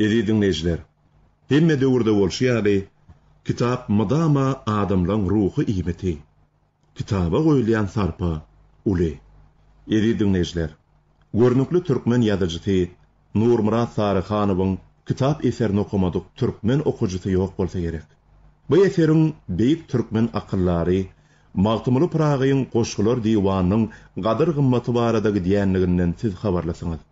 Eziz diňleýjiler, hemme döwürde bolşy ýaly, kitap mydama adamlaň ruhy iýmiti. Kitaba goýulýan sarpa uly. Eziz diňleýjiler, görnükli türkmen ýazyjysy Nurmyrat Saryhanowyň kitap eserini okamadyk türkmen okyjysy ýok bolsa gerek. Bu eseriň beýik türkmen akyldary Magtymguly Pyragyň Goşgular diwanynyň gadyr-gymmaty barada gidýänliginden siz habarlysyňyz.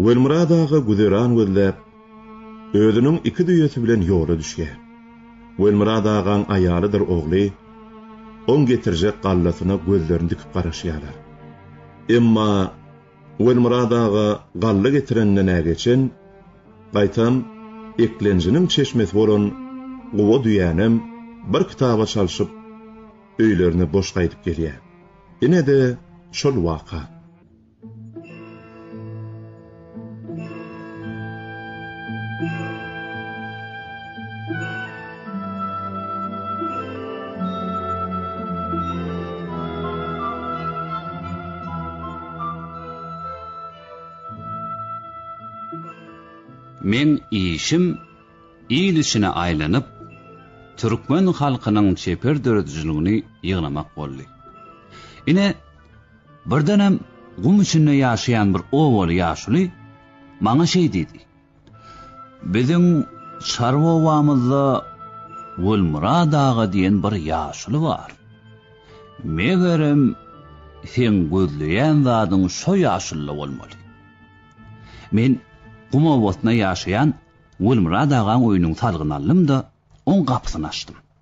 Welmyrat aga güzeran gözläp, özüniň iki düýesi bilen ýola düşýär. Welmyrat agaň aýalydyr ogly oň getirjek gallasyna gözlerini dikip garaşýarlar. Emma Welmyrat aga galla getirenden nä geçen, gaýtam, eklenjiniň çeşmesi bolan Guba düýänem bir kitaba çalşyp, öýlerine boş gaýdyp gelýär. Ine-de şol waka. Men işim il içine aýlanyp, türkmen halkynyň çeper döredijiligini ýygnamak boldy. Ine, birdenem gum içinde ýaşaýan bir obaly ýaşuly maňa şeý diýdi. Biziň çarwa obamyzda Gulmyrat aga diýen bir ýaşuly bar. Megerem, seň gözleýän zadyň şo ýaşulda bolmaly. Men gum obasynda ýaşaýan Gulmyrat agaň öýüniň salgyny aldym-da, oň gapysyny açdym.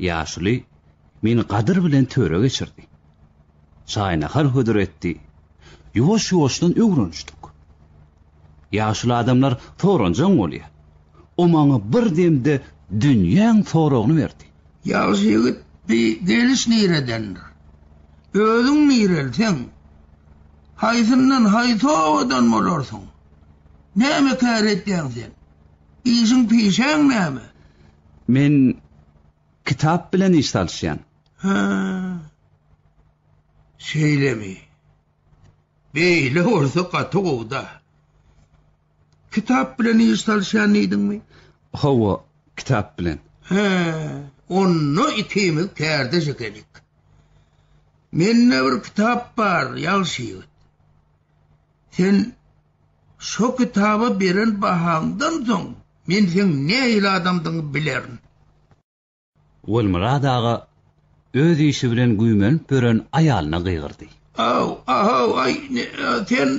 Ýaşuly meni gadyr bilen töre geçirdi. Çaý-nahar hödür etdi. Ýuwaş-ýuwaşdan öwrenişdik. Ýaşuly adamlar soranjaň bolýar. O maňa bir demde dünýäň soragyny berdi. Ýagşy ýigit, bi geliş niredendir? Özüň nireli, seň? Haýsyndan, haýsy obadan bolarsyň? Näme kär etýäň sen? Işiň-pişäň näme? Men kitap bilen iş salyşýan. Hä. Şeýlemi? Beýle bolsa gaty gowy-da. Kitap bilen iş salyşýan diýdiňmi? Hawa, kitap bilen. Hä, onda ikimiz kärdeş ekenik. Mende bir kitap bar, ýagşy ýigit. Sen Şo kitaba beren bahaňdan soň, men seň nähili adamdygyňy bilerin. Welmyrat aga öz işi bilen güýmenip ýören aýalyna gygyrdy. Aw, aw, aý, sen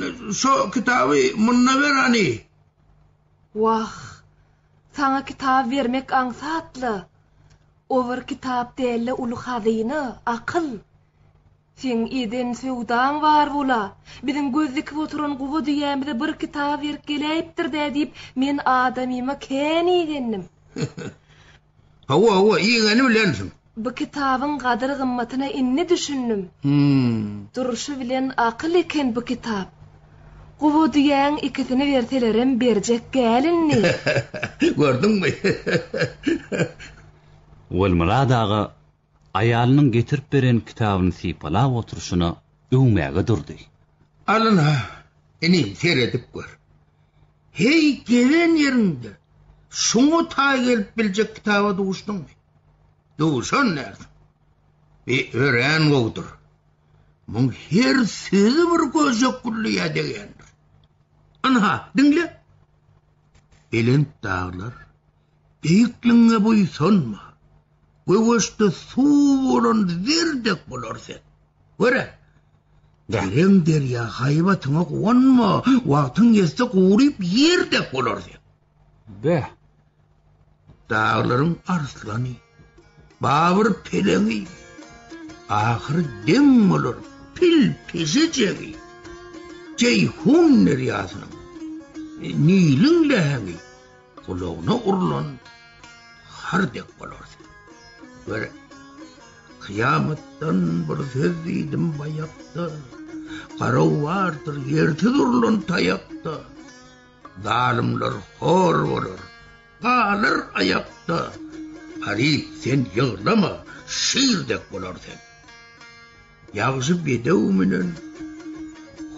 şo kitaby munda ber hany! Wah, saňa kitaby bermek aňsat-la! O bir kitap däl-de uly hazyna, akyl! Seň eden söwdaň bar bol-a! Biziň göz dikip oturan guba düýämize bir kitap erik geläýipdir-dä diýip, men adamyma kän igendim. Hawa, hawa, igeni bilensiň. Bu kitabyň gadyr-gymmatyna indi düşündim. Hum. Durşy bilen akyl eken bu kitap. Guba düýäň ikisini berselerem berjek gäl indi. Gördüňmi? Welmyrat aga Aýalynyň getirip beren kitabyny sypalap oturyşyna öwmäge durdy. Alyn-a, inim, seredip gör. Heý, gezen ýeriňde şuňa taý gelip biljek kitaba duşdüňmi? Duşan dälsiň. Bi örän gowudyr. Muň her sözi bir göjek gülliýä degýändir. Ynha, diňle! Belent daglar, beýikligiňe buýsanma. Göwüşde suw bolan zer dek bolar sen. Göre. Dereň derýa haýbatyňa guwanma, wagtyň ýetse guryp ýer dek bolar sen. Beh. Daglaryň arslany, babyr peleňi, ahyry deň bolar pil peşejegi. Jeýhun derýasynyň, Niliň leheňi. Gulagyna urlan har dek bolar sen. Gör, kyýamatdan bir söz diýdim baýakda, Garaw bardyr ýersiz urlan taýakda, Zalymlar hor bolar, galar aýakda, Garyp sen ýyglama, şir dek bolar sen. Ýagşy bedew menen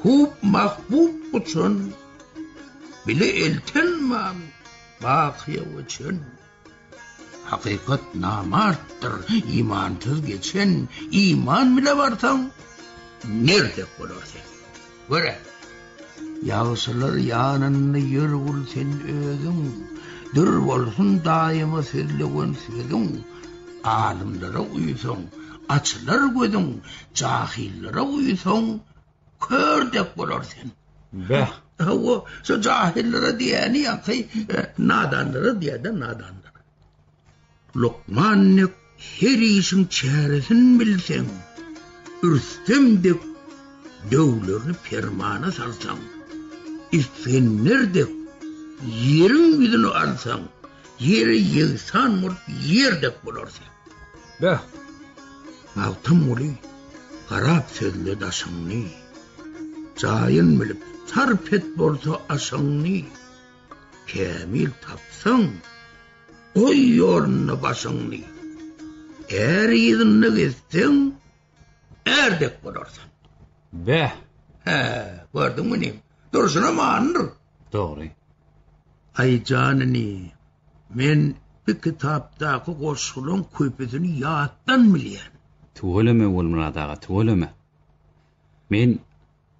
Hub mahbub guçan Bile elten man Bakyýa göçen Hakykat namartdyr Imansyz geçen Iman bile barsaň Merdek bolar sen. Görä. Ýagşylar ýanynda ýör gul sen özüň, Dür bolsun daýyma sözlewen sözüň. Alymlara uýsaň, açylar gözüň, Jahyllara uýsaň, kör dek bolar sen. Bäh. Hawa, şo jahyllara diýýäni ýa-da nadanlara diýýär-de, nadanlara. Lukman dek her işiň çäresin bilseň, Rüstem dek döwlerini permana salsaň, Isgender dek ýeriň ýüzüni alsaň, Ýere ýegsan bolup ýer dek bolarsyň. Beh! Magtymguly garap sözle daşyňny, Jaýyn bilip sarp et bolsa aşyňny, Kämil tapsaň, Goý ýolunda başyňy. Är yzynda gezseň, är dek bolarsyň. Beh! Hä, gördüňmi inim? Durşuna manydyr. Dogry. Aý jan inim, men bu kitapdaky goşgularyň köpüsini ýatdan bilýän. Tüweleme, Ogulmyrat aga, tüweleme. Men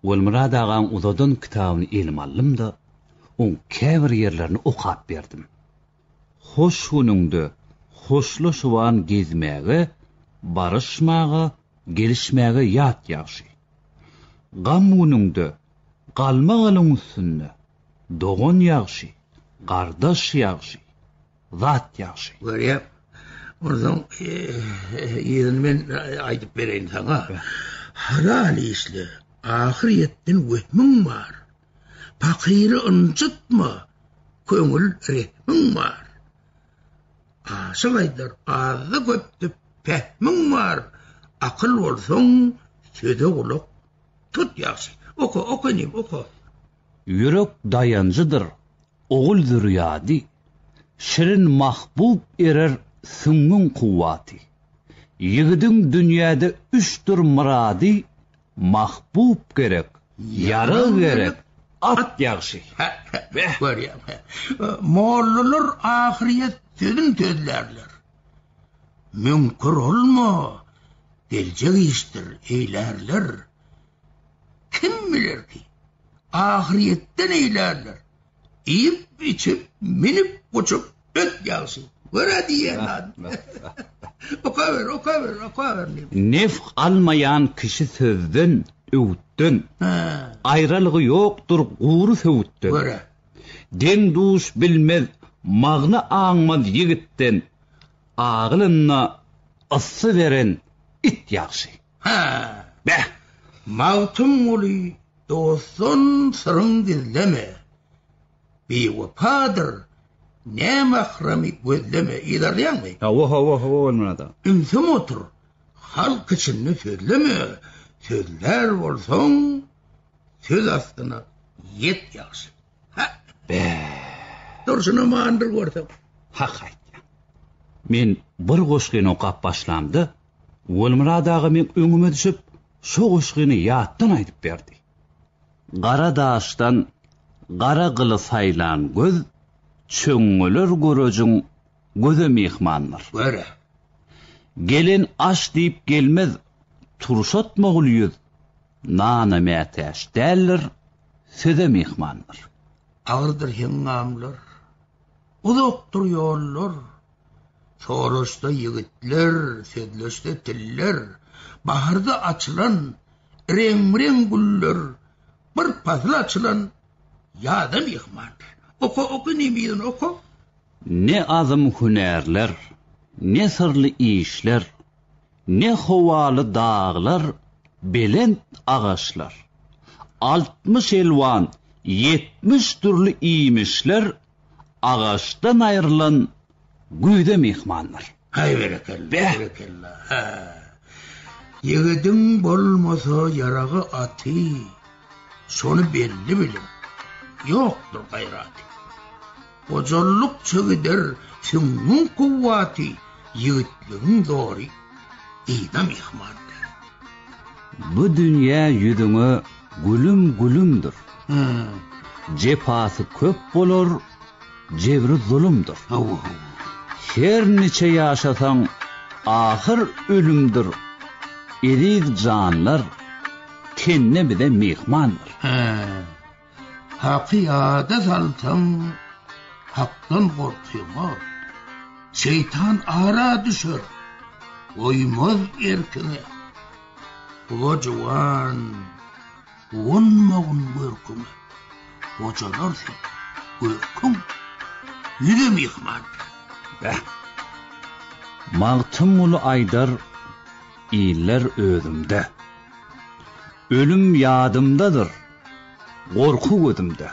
Gulmyrat agaň uzadan kitabyny elime aldym-da, oň käbir ýerlerini okap berdim. Hoş günüňde hoşlaşyban gezmäge, baryşmaga, gelişmäge ýat ýagşy. Gam günüňde galma-galyň üstünde, dogan ýagşy, gardaş ýagşy. Zat ýagşy. Görýäň, onsoň yzyny men aýdyp bereýin saňa. Halal işle, ahyr ýetdin wehmiň bar. Pakyry ynjytma, köňül rehmiň bar. Aşyk aýdar, azda köpde pähmiň bar. Akyl bolsaň, söze gulak tut ýagşy. Oka, oka inim, oka. Ýürek daýanjydyr ogul-zürýady, Şirin mahbub erer süňňüň kuwwaty. Ýigidiň dünýäde üçdir myrady, Mahbub gerek, ýara gerek, at ýagşy. Beh, görýäň, mollalar ahyrýet sözün sözlärler. Müňkür olma, geljek işdir eýlärler. Kim biler ki, ahyrýetde neýlärler? Iýip-içip, minip-guçup öt ýagşy. Görä diýýän zady. Okaber, okaber, okaber diýip. Nef almaýan kişi sözden, öwütden. Aýralygy ýokdur gury söwütden. Görä. Deň-duş bilmez, magna aňmaz ýigitden, agylynda yssy beren it ýagşy. Hä, beh, Magtymguly dostdan syryň gizleme, Biwepadyr, ne mahramy gözleme, yzarlaýaňmy? Hawa, hawa, hawa bolmanada. Ümsüm otur, halk içinde sözleme, Sözlär bolsaň, söz astyna ýet ýagşy. Hä! Beh! Dursun amandyr görseň. Hak aýtýaň. Men bir goşgyny okap başlamda Gulmyrat aga meň öňüme düşüp, şo goşgyny ýatdan aýdyp berdi. Gara daşdan gara gyly saýlan göz, çöňňeler görejiň göze myhmandyr. Göre. Gelen aş diýip gelmez, turşatmagul ýüz, nana mätäç däldir, söze myhmandyr. Agyrdyr heňňamlar, uzakdyr ýollar. Soraşsa ýigitler, sözleşse tiller, Baharda açylan reň-reň güller, Bir pasyl açylan ýaza myhmandyr. Oka, oka, nemiziň oka! Ne azym hünärler, ne syrly işler, Ne howaly daglar, belent agaçlar, Altmyş elwan, ýetmiş dürli iýmişler, Agaçdan aýrylan güýze myhmandyr. Haý berekella, berekella, hä. Ýigidiň bolmasa ýaragy aty, şony belli biliň, ýokdur gaýraty. Gojallykça gider süňňüň kuwwaty, ýigitligiň zory yza myhmandyr. Bu dünýä ýüzüňe Gülüm gülümdir. Jepasy köp bolar, jebri zulumdyr. Her niçe ýaşasaň, ahyr ölümdir. Eziz janlar, tenne bize myhmandyr. Haky ýada salsaň, hakdan gorkýaňok. Şeýtan ara düşer, goýmaz erkiňe. Ula juwan, gonmagyn görküňe. Gojalar sen, görküň, ýüze myhman. Beh! Magtymguly aýdar, Iller özümde. Ölüm ýadymdadyr. Gorky gözümde.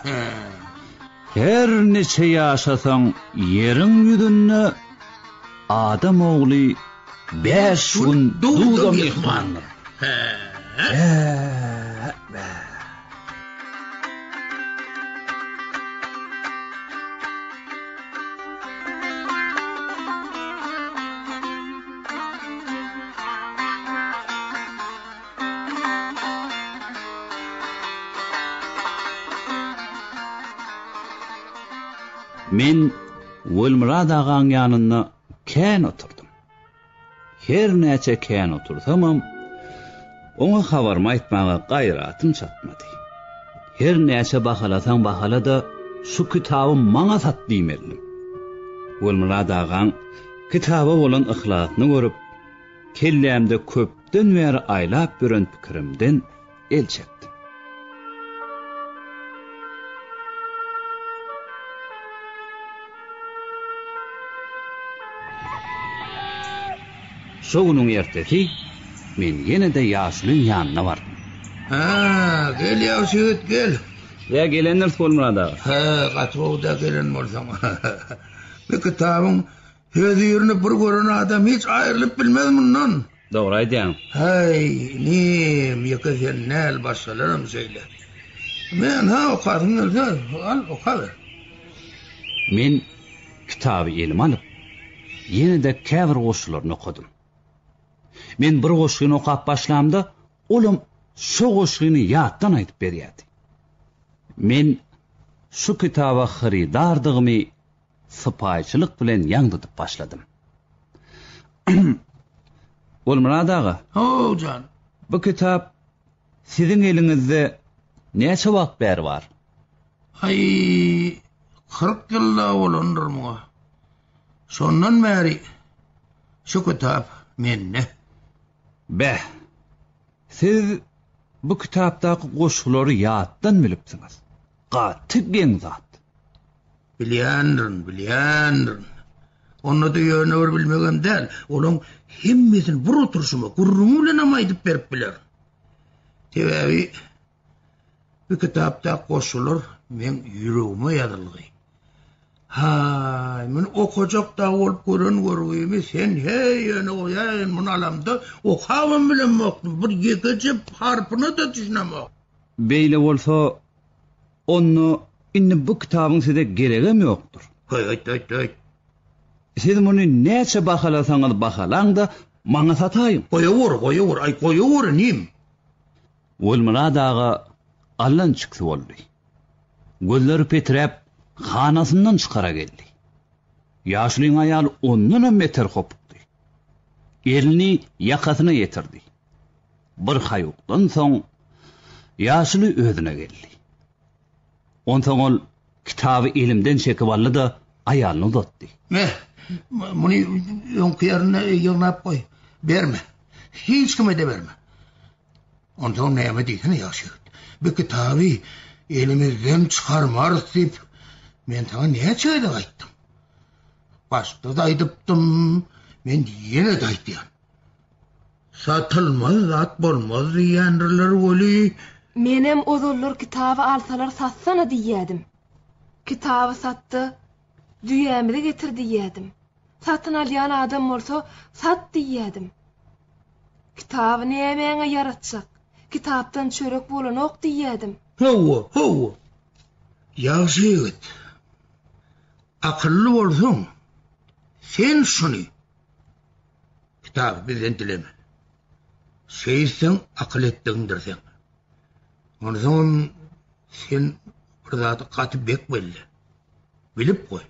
Her niçe ýaşasaň ýeriň ýüzünde adam ogly bäş gün duza myhmandyr. Men Welmyrat agaň ýanynda kän oturdym. Her näçe kän otursamam, oňa habarymy aýtmaga gaýratym çatmady. Her näçe bahalasaň bahala-da, şu kitaby maňa sat diýmelidim. Welmyrat agaň kitaba bolan yhlasyny görüp, kellämde köp Dünden bäri aýlap ýören pikirimden el çekdim. Şo günüň ertesi men ýene-de ýaşulyň ýanyna bardym. Hä, gel ýagşy ýigit, gel! Ýa gelendiris Gulmyrat aga? Hä, gaty gowy-da gelen bolsaň. Bu kitabyň Öz ýerini bir gören adam hiç aýrylyp bilmez mundan. Dogry aýdýaň. Haý, inim, ýeke sen däl, başgalaram şeýle. Men, ha, okasyň gelse, al, okaber. Men kitaby elime alyp, ýene-de käbir goşgularyny okadym. Men bir goşgyny okap başlamda, olam şo goşgyny ýatdan aýdyp berýärdi. Men şu kitaba hyrydardygymy sypaýyçylyk bilen ýaň tutup başladym. Gulmyrat aga! Ho-ow jan! Bu kitap siziň eliňizde näçe wagt bäri bar? Haý, kyrk ýylda bolandyr muňa. Şondan bäri şu kitap mende. Beh, siz bu kitapdaky goşgulary ýatdan bilipsiňiz. Gaty geň zat. Bilýändirin, bilýändirin. Onda-da ýöne bir bilmegem däl, olaň hemmesini bir oturyşyma gürrüňi bilenem aýdyp berip bilerin. Sebäbi bu kitapda goşgular meň ýüregime ýazylgy. Haý, men okajak da bolup gören görgimi sen heý ýöne goýaýyn, muny alamda okabam bilemokdym, bir ýekeje harpyna-da düşünemokdym. Beýle bolsa, onda indi bu kitabyň size geregem ýokdur. Heý, öýtme, öýtme, öýt! Siz muny näçe bahalasaňyz bahalaň-da, maňa sataýyň. Goýaweri, goýaweri, aý, goýaweri, inim! Welmyrat aga allançyksy boldy. Gözleri peträp, hanasyndan çykara geldi. Ýaşulyň aýaly ondanam beter hopukdy. Elini ýakasyna ýetirdi. Bir haýukdan soň ýaşuly özüne geldi. Onsoň ol kitaby elimden çekip aldy-da, aýalyna uzatdy. Ýe, muny öňki ýerinde ýygnap goý. Berme. Hiç kime-de berme. Onsoň näme diýsene, ýagşy ýigit. Bu kitaby elimizden çykarmarys diýip, men saňa näçe gezek aýtdym. Başda-da aýdypdym, men ýene-de aýdýan. Satylmaz zat bolmaz diýýändirler weli. Menem ozallar kitaby alsalar satsana diýýädim. Kitaby satda, düýämizi getir diýýädim. Satyn alýan adam bolsa, sat diýýädim. Kitaby nämäňe ýaratjak? Kitapdan çörek bolanok diýýädim. Hawa, hawa. Ýagşy ýigit. Akylly bolsaň, sen şuny. Kitaby bizden dileme. Seýisseň, akyl etdigiňdir seň. Onsoňam sen bir zady gaty bek belle. Bilip goý.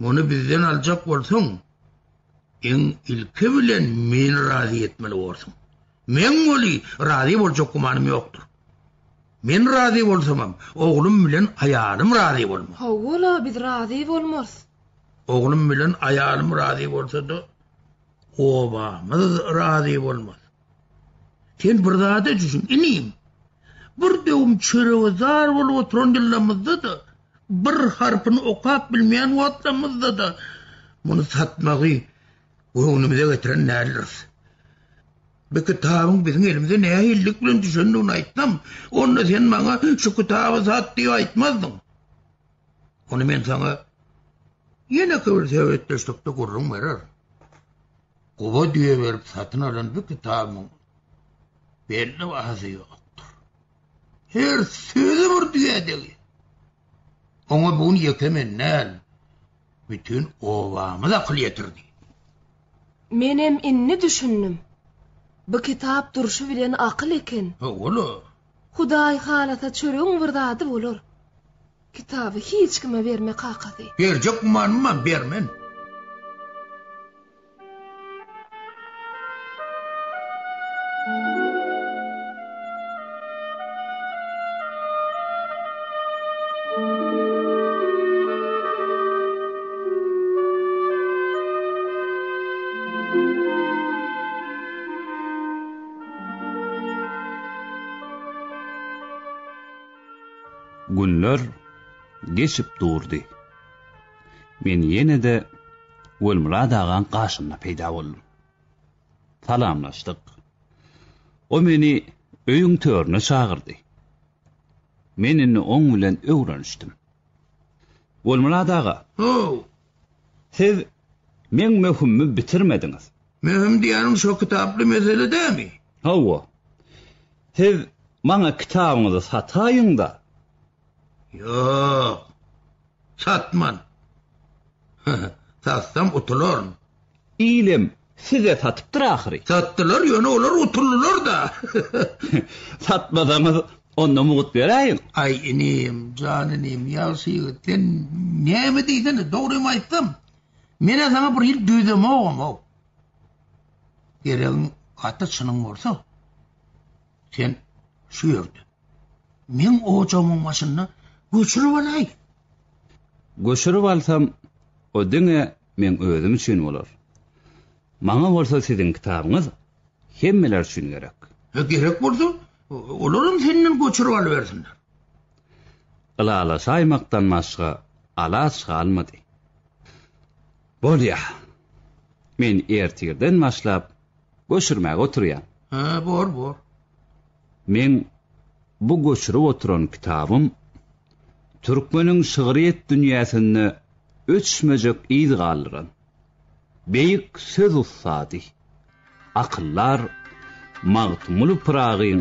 Muny bizden aljak bolsaň, iň ilki bilen meni razy etmeli borsuň. Meň weli razy boljak gümanym ýokdur. Men razy bolsamam, oglum bilen aýalym razy bolmaz. Hawa-la, biz razy bolmarys. Oglum bilen aýalym razy bolsa-da, obamyz razy bolmaz. Sen bir zada düşün, inim. Bir döwüm çörege zar bolup oturan ýyllarymyzda-da, bir harpyny okap bilmeýän wagtlarymyzda-da muny satmagy göwnümize getiren däldiris. Bu kitabyň biziň elimize nähililik bilen düşendigini aýtsam, onda sen maňa şu kitaby sat diýip aýtmazdyň. Ony men saňa ýeneki bir söhbetdeşlikde gürrüň bererin. Guba düýe berip satyn alan bu kitabyň belli bahasy ýokdur. Her sözi bir düýe degi. Oňa bugün ýeke men näl, bütün obamyz akyl ýetirdi. Menem indi düşündim. Bu kitap durşy bilen akyl eken. Howala. Hudaý halasa çöregiň bir zady bolar. Kitaby hiç kime berme kakasy. Berjek gumanymmam bermen. Günler geçip durdy. Men ýene-de Welmurad agaň gaşynda peýda boldum. Salamlaşdyk. O meni öýüň törüne çagyrdy. Men indi oň bilen öwrenişdim. Gulmyrat aga. Ho-w! Siz meň möhümimi bitirmediňiz. Möhüm diýýäniň şo kitaply mesele dämi? Hawa. Siz maňa kitabyňyzy sataýyň-da, Ýok. Satman. Satsam utularyn. Ilem size satypdyr ahyry. Satdylar, ýöne olar utuldylar-da. Satmasaňyz, onda mugt beräýiň. Aý inim, jan inim, ýagşy ýigit, sen näme diýsene, dogrymy aýtsam, men-ä saňa bir hili dözemogam-ow. Geregiň gaty çynyň bolsa. Sen şu ýerde. Meň ojagymyň başynda göçürip alaý. Göçürip alsam, o diňe meň özüm üçin bolar. Maňa bolsa siziň kitabyňyz hemmeler üçin gerek. Hä, gerek bolsa, olaram senden göçürip alybersinler. Ylalaşaýmakdan başga alaç galmady. Bolýar. Men ertirden başlap Göçürmäge oturýan. Hä, bor, bor. Meň bu göçürip oturan kitabym türkmeniň şygryýet dünýäsinde öçmejek yz galdyran beýik söz ussady, akyldar Magtymguly Pyragyň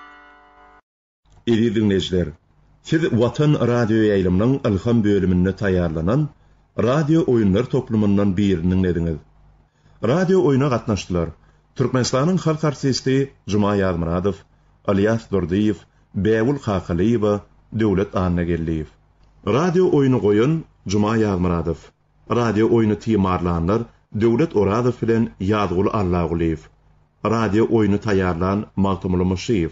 Eziz diňleýjiler, siz Watan radioýaýlymynyň Ylham bölüminde taýýarlanan radio oýunlar toplumyndan birini diňlediňiz. Radio oýna gatnaşdylar, Türkmenistanyň halk artisti Juma Ýazmyradow, Ylýas Durdyýew, Bägül Kakalyýewa, Döwlet Annageldiýew. Radio oýny goýan Juma Ýazmyradow. Radio oýny timarlanlar, Döwlet Orazow bilen Ýazguly Allagulyýew. Radio oýny taýýarlan, Magtymguly Myşyýew.